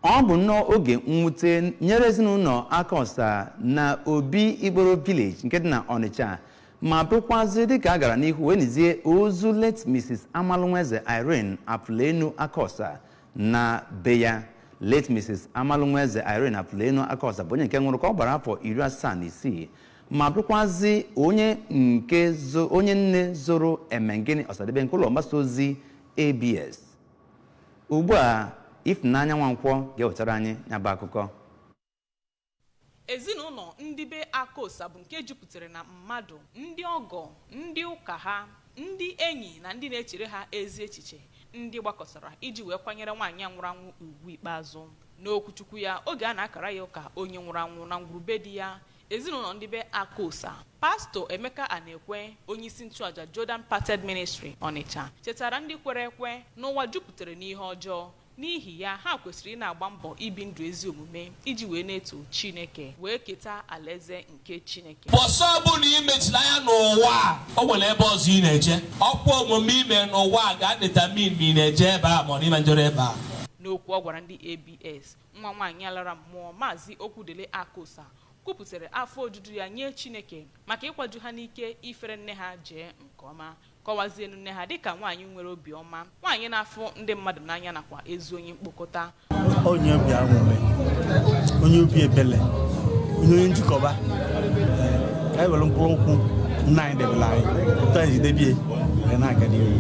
ọ bụ nnọọ oge mwute nyere ezinụlọ akosa na obikporo village nke dị na ọnịcha ma bụrụkwazi dịka a gara n'ihu wee nizie ozu late mrs amalụnweze irene afụlenu akosa na be ya late mrs amalụnweze irene afụlenu akosa bụ onye nke nwụrụ ka ọ gbara afọ iri asaa na isii ma bụrụkwazi onye nne zụrụ emengini ọsadebe nke ụlọ mgbasa ozi abs ugbu a Ifunanya Nwankwọ ga-ewetara anyị ya bụ akụkọ ezinụlọ ndị be akosa bụ nke jupụtara na mmadụ ndị ọgọ ndị ụka ha ndị enyi na ndị na-echere ha ezi echiche ndị gbakọtara iji wee kwanyere nwaanyị nwụrụ anwụ ugwu ikpeazụ n'okwuchukwu ya oge a na-akara ya ụka onye nwụrụ anwụ na ngwuru be di ya Ezinụlọ ndị be Akosa. Pastọ Emeka Anekwe, onyeisi nchụaja Jordan Parted Ministry, Ọnịcha, chetara ndị kwere ekwe na ụwa jupụtara n'ihe ọjọọ. N'ihi ya, ha kwesịrị ị na-agba mbọ ibi ndụ ezi omume iji wee na-eto Chineke wee keta alaeze nke Chineke. Mbọsị ọbụla i mechiri anya n'ụwa a, o nwere ebe ọzọ ị na-eje. Ọkwa omume i mere n'ụwa a ga-adetermine ma ị na-eje ebe a ma ọ na ị na-ejerọ ebe a. N'okwu ọ gwara ndị ABS, nwa nwaanyị a lara mmụọ maazị okwudili akosa kwupụtara afọ ojuju ya nye chineke maka ịkwaju ha n'ike ifere nne ha jee nke ọma kọwazienu nne ha dịka nwaanyị nwere obi ọma nwaanyị na-afụ ndị mmadụ n'anya nakwa ezi onye mkpokọta onye obi anwụrị onye obi ebele onye onye njikọba ka anyị were mkpụrụ ụkwụ nne anyị debere anyị otu anyị ji debie wee na-aga n'ihu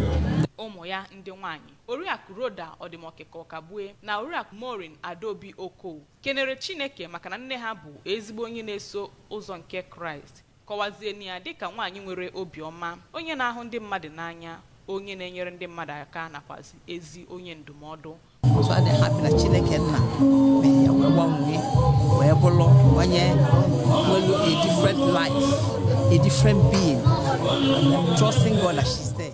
ụmụ ya ndị nwaanyị Oriakụ Rhoda Ọdịmọkịka Ọkagbue na Oriakụ Maureen Adaobi Okoh kenere Chineke maka na nne ha bụ ezigbo onye na-eso ụzọ nke Kraịst, kọwazieni ya dịka nwaanyị nwere obi ọma, onye na-ahụ ndị mmadụ n'anya, onye na-enyere ndị mmadụ aka nakwazị ezi onye ndụmọdụ. So I'm happy na Chineke nna mere ya wee gbanwee wee bụrụ onye nwere a different life, a different being, trusting God that she's there.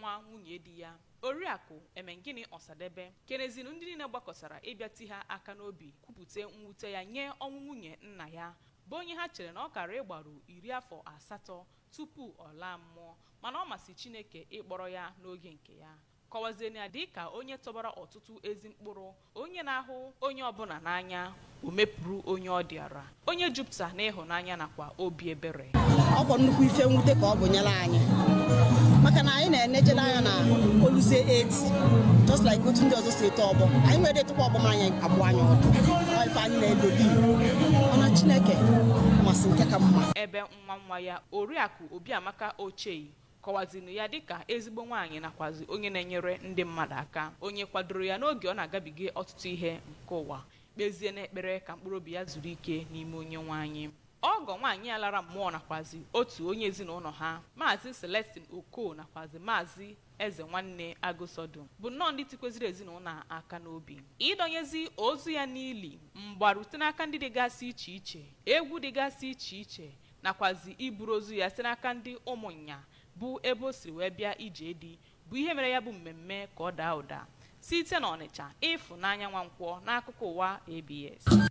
nwa nwunye di ya oriakụ emengini ọsadebe kenezinu ndị niile gbakọtara ịbịa ti ha aka n'obi kwupụta mwute ya nye ọnwụ nwunye nna ya bụ onye ha chere na ọ kara ịgbaru iri afọ asatọ tupu ọ laa mmụọ mana ọ masị chineke ịkpọrọ ya n'oge nke ya kọwazieni ya dịka onye tọbara ọtụtụ ezi mkpụrụ onye na-ahụ onye ọbụla n'anya o mepụrụ onye ọ dịara onye jupụta n'ịhụnanya nakwa obi ebere ọ bụ nnukwu ife mwute ka ọ bụ nyere anyị maka na anyị na-enejere anya na o luzie 80 just like otu ndị ọzọ si eto ọgbọ anyị nwere etụkwa ọgbọ ma anyị abụọ anyị ọdụ Ọ ife anyị na-elodi mana chineke masị nke ka mma ebe nwa nwa ya oriakụ obiamaka ochei kọwazinu ya dịka ezigbo nwaanyị nakwazi onye na-enyere ndị mmadụ aka onye kwadoro ya n'oge ọ na-agabiga ọtụtụ ihe nke ụwa kpezie n'ekpere ka mkpụrụ obi ya zuru ike n'ime onye nwe anyị ọgọ nwaanyị a lara mmụọ nakwazi otu onye ezinụlọ ha maazị celestine oko nakwazi maazị eze nwanne agụsọdụ bụ nnọọ ndị tikweziri ezinụlọ a aka n'obi ịdọnyezi ozu ya n'ili mgbarute n'aka ndị dịgasị iche iche egwu dịgasị iche iche nakwazi iburu ozu ya site n'aka ndị Ụmụnya bụ ebe o siri wee bịa ije di bụ ihe mere ya bụ mmemme ka ọ daa ụda. Site n'Ọnịcha, Ịfụnanya Nwankwọ n'akụkọ ụwa ABS.